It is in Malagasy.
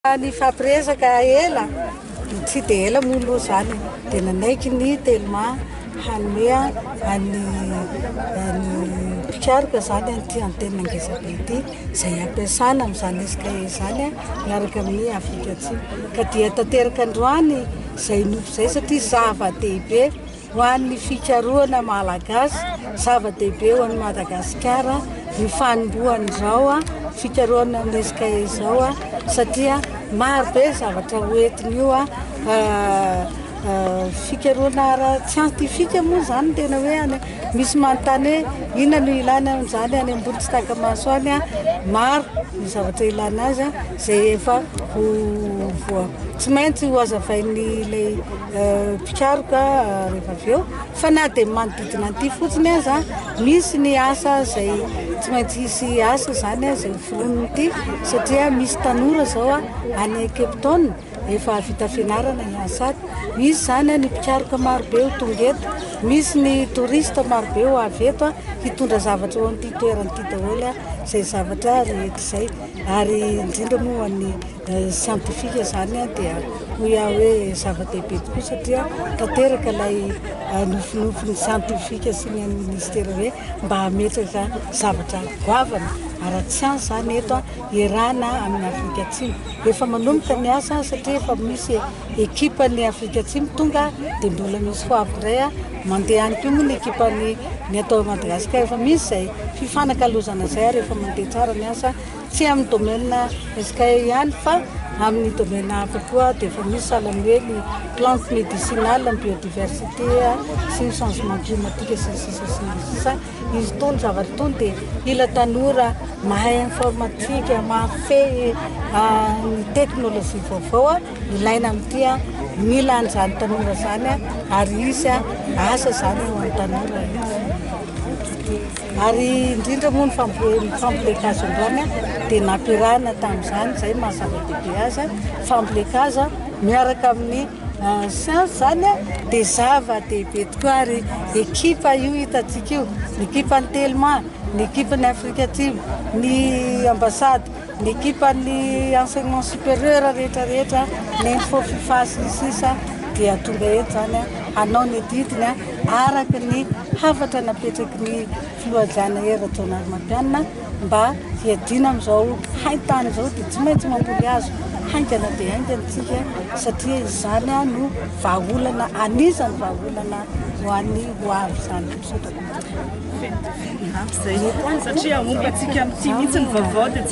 Nifampiresaka ela, tsy dia ela moa aloha izany e, dia nanaiky ny Telma hanome an'ny an'ny mpikaroka izany an'ity antenina ngezabe ity, izay hampiasana amin'izany SKE izany miaraka amin'i Afrika Atsimo. Ka dia tanteraka androany izay nofy izay satria zava-dehibe. Ho an'ny fikarohana malagasy, zava-dehibe ho an'i Madagasikara ny fanombohan'izao fikarohana minisika izao satria marobe ny zavatra ho entin'io fikarohana ara-tsiantifika moa izany no tena hoe any. Misy manontany hoe inona no ilàna an'izany any Ambohitsitakamasy any? Maro ny zavatra ilàna azy izay efa ho voa- tsy maintsy ho hazavain'ilay. mpikaroka rehefa avy eo fa na dia manodidina an'ity fotsiny aza misy ny asa izay tsy maintsy hisy asa izany izay hoforonon'ity satria misy tanora izao any Cape Town efa vita fianarana ny Ansat misy izany ny mpikaroka marobe ho tonga eto misy ny touriste marobe ho avy eto hitondra zavatra eo amin'ity toerana ity daholo izay zavatra rehetra izay ary indrindra moa ho an'ny Ny siantifika izany dia hoy aho hoe zava-dehibe tokoa satria tanteraka ilay nofinofin'ny siantifika sy ny an'ny minisitera hoe mba hametraka zavatra goavana ara-tsiansa izany eto hiarahana amin'ny Afrika Atsimo. Efa manomboka ny asa satria efa misy ekipan'ny Afrika Atsimo tonga dia mbola misy ho avy indray mandeha any koa moa ny ekipan'ny ny ato Madagasikara. Efa misy izay fifanakalozana izay ary efa mandeha tsara ny asa. Tsy amin'ny domaine SKE ihany fa amin'ny domaine hafa koa dia efa misy sahala ny hoe ny plantes médicinales, ny biodiversité sy ny changement climatique sy ny sisa sy ny sisa. Izy itony zavatra itony dia mila tanora mahay informatique, mahafehy ny technologie vaovao ilaina amin'ity. Mila an'izany tanora izany ary hisy asa izany ho an'ny tanora. Ary indrindra moa ny fambolen-kazon-dràny dia nampiarahana tamin'izany, izay no maha zava-dehibe azy, fambolen-kazo miaraka amin'ny siansa izany dia zava-dehibe tokoa ary ekipa io hitantsika io, ny ekipan'ny Telma, ny ekipan'ny Afrika Atsimo, ny ambasady. Ny ekipan'ny enseignement supérieur rehetra rehetra, ny info fifa sy ny sisa dia tonga eto izany hanao ny didiny araka ny hafatra napetraky ny filoha Jana Hery Rajaonarimampianina mba hiadiana amin'izao hain-tany izao dia tsy maintsy mamboly hazo haingana dia haingana isika satria izany no vahaolana anisan'ny vahaolana ho an'ny ho avy izany. Misaotra tompoko. Izay satria ompantsika amin'ity mihitsy ny vaovao dia